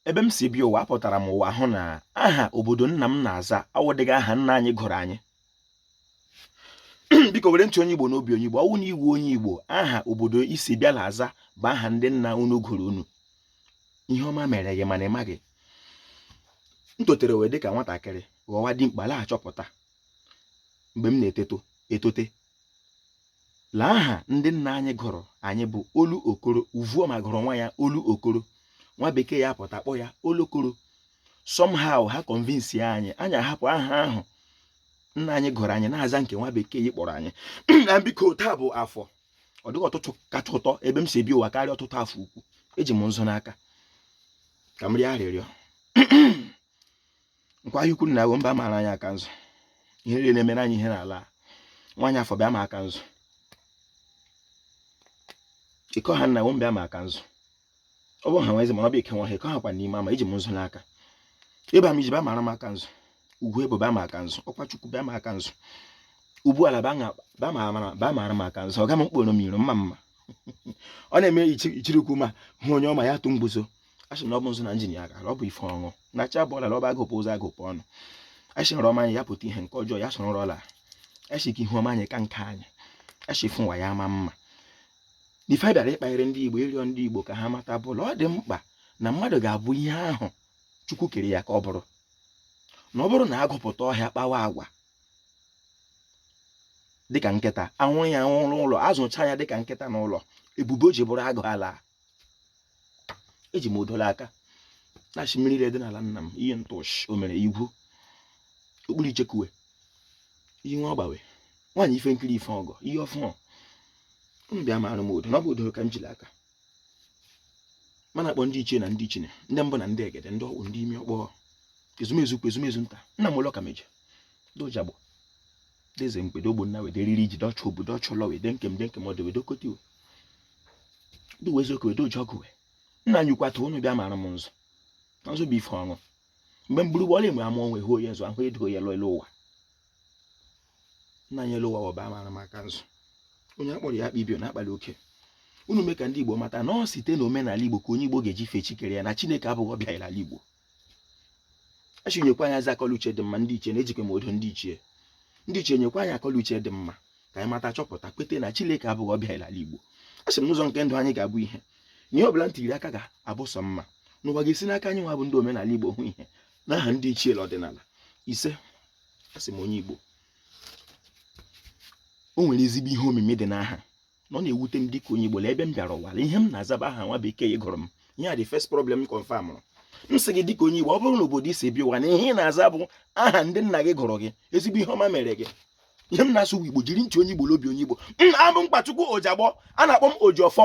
ebe m si bịa ụwa apụtara m ụwa hụ na aha obodo nna m na-aza awụdịghị aha nna anyị gụrụ anyị biko were ntị onye igbo n'obi onye igbo ọ wụ na ị wụ onye igbo aha obodo i si bịa na-aza bụ aha ndị nna unu gụrụ unu ihe ọma mere gị mana ị maghị m totere wee dịka nwatakịrị ghọwa dimkpa la-achọpụta mgbe m na-etote etote La aha ndị nna anyị gụrụ anyị bụ olu okoro uvuoma gụrụ nwa ya olu okoro nwa bekee apụta kpọọ ya olokoro somehow ha convince anyị anyị ahapụ aha ahụ nna anyị gụrụ anyị na-aza nke nwa bekee yi kpọrọ anyị na biko taa bụ afọ ọ dịghị ụtụtụ kacha ụtọ ebe m si bịa ụwa karịa ụtụtụ afọ ukwu eji m nzu n'aka ka m rịọ arịrịọ nkwọ ahịa ukwu nna wo bịa mara anyị aka nzu ihe niile na-emere anyị ihe n'ala nwaanyị afọ bịa ma aka nzu ịkọ ha nna wo bịa ma aka nzu ọ bụ ha nwezi mana ọ bụ ike nwa ha ịkọ ha kwa n'ime ama eji m nzu n'aka ịba m iji bịa mara m aka nzu ugwu ebo bịa ma aka nzu ọkwa chukwu bịa ma aka nzu ugbu ala bịa mara m aka nzu ọ ga m mkporo m iru mma mma ọ na-eme ichirikwu ma hụ onye ọma ya tụ mgbuzo a sị na ọ bụ nzu na njin ya gara ọ bụ ife ọṅụ na chi abọọla na ọ bụ agụpụ ụzọ agụpụ ọnụ a sị nrọ ọma anyị ya pụta ihe nke ọjọọ ya soro nrọ laa a sị ka ihu ọma anyị ka nke anyị a sị fụ nwa ya ama mma ife a bịara ịkpanyere ndị igbo ịrịọ ndị igbo ka ha mata bụ la ọ dị mkpa na mmadụ ga-abụ ihe ahụ chukwu kere ya ka ọ bụrụ na ọ bụrụ na agụ pụta ọhịa kpawa agwa dịka nkịta anwụrụ ya anwụrụ ụlọ azụcha ya dịka nkịta n'ụlọ ebube o ji bụrụ agụ alaa eji m odo la aka na-asị mmiri ile dị n'ala nna m iyi ntụọchị o mere igwu okpuru ichekuwe ihe nwa ọgbawe nwaanyị ife nkiri ife ọgọ ihe ọfụma unu bịa maara m odo na ọ bụ odo ka m ji la aka ma na-akpọ ndị ichie na ndị ichine ndị mbụ na ndị egede ndị ọkpụ ndị ime ọkpọ ezumezu ukwu ezumezu nta nna m ụlọ ka meje dojagbụ deze mgbede ogbonna wede riri iji dọchụ obu dọchụ ụlọ wede nke m de nke m ọdụ wede okoti we ndị wezi oke wede oji ọgụ we nna anyị kwata unu bịa mara m nzu na nzu bụ ife ọṅụ mgbe mgburu gbọla enwe amụ onwe hụ onye nzu ahụ edo ya lọ elu ụwa nna anyị elu ụwa bịa mara m aka nzu onye akpọrọ ya akpa ibio na-akpali oke unu mee ka ndị igbo mata na ọ site na omenala igbo ka onye igbo ga-eji fee chi kere ya na chineke abụghị ọbịa n'ala igbo a sị nyekwa anyị ezi akọ la uche dị mma ndị ichie na ejikwa m odo ndị ichie ndị ichie nyekwa anyị akọ la uche dị mma ka anyị mata chọpụta kweta na Chineke abụghị ọbịa ala Igbo a sị m na ụzọ nke ndụ anyị ga-abụ ihe na ihe ọbụla m tiri aka ga-abụ sọ mma na ụwa ga-esi n'aka anyị nwa bụ ndị omenala Igbo hụ ihe n'aha ndị ichie ọdịnala isee a sị m onye Igbo o nwere ezigbo ihe omimi dị n'aha na ọ na-ewute m dịka onye Igbo ebe m bịara ụwa ihe m na-aza bụ aha nwa bekee gụrụ m ihe a dị first problem confirm m sị gị dịka onye Igbo ọ bụrụ na obodo i si bịa ụwa na ihe ị na-aza bụ aha ndị nna gị gụrụ gị ezigbo ihe ọma mere gị ihe m na-asụ bụ Igbo jiri ntị onye Igbo la obi onye Igbo abụ m Mkpachukwu Ojiagbọ a na-akpọ m Ojiọfọ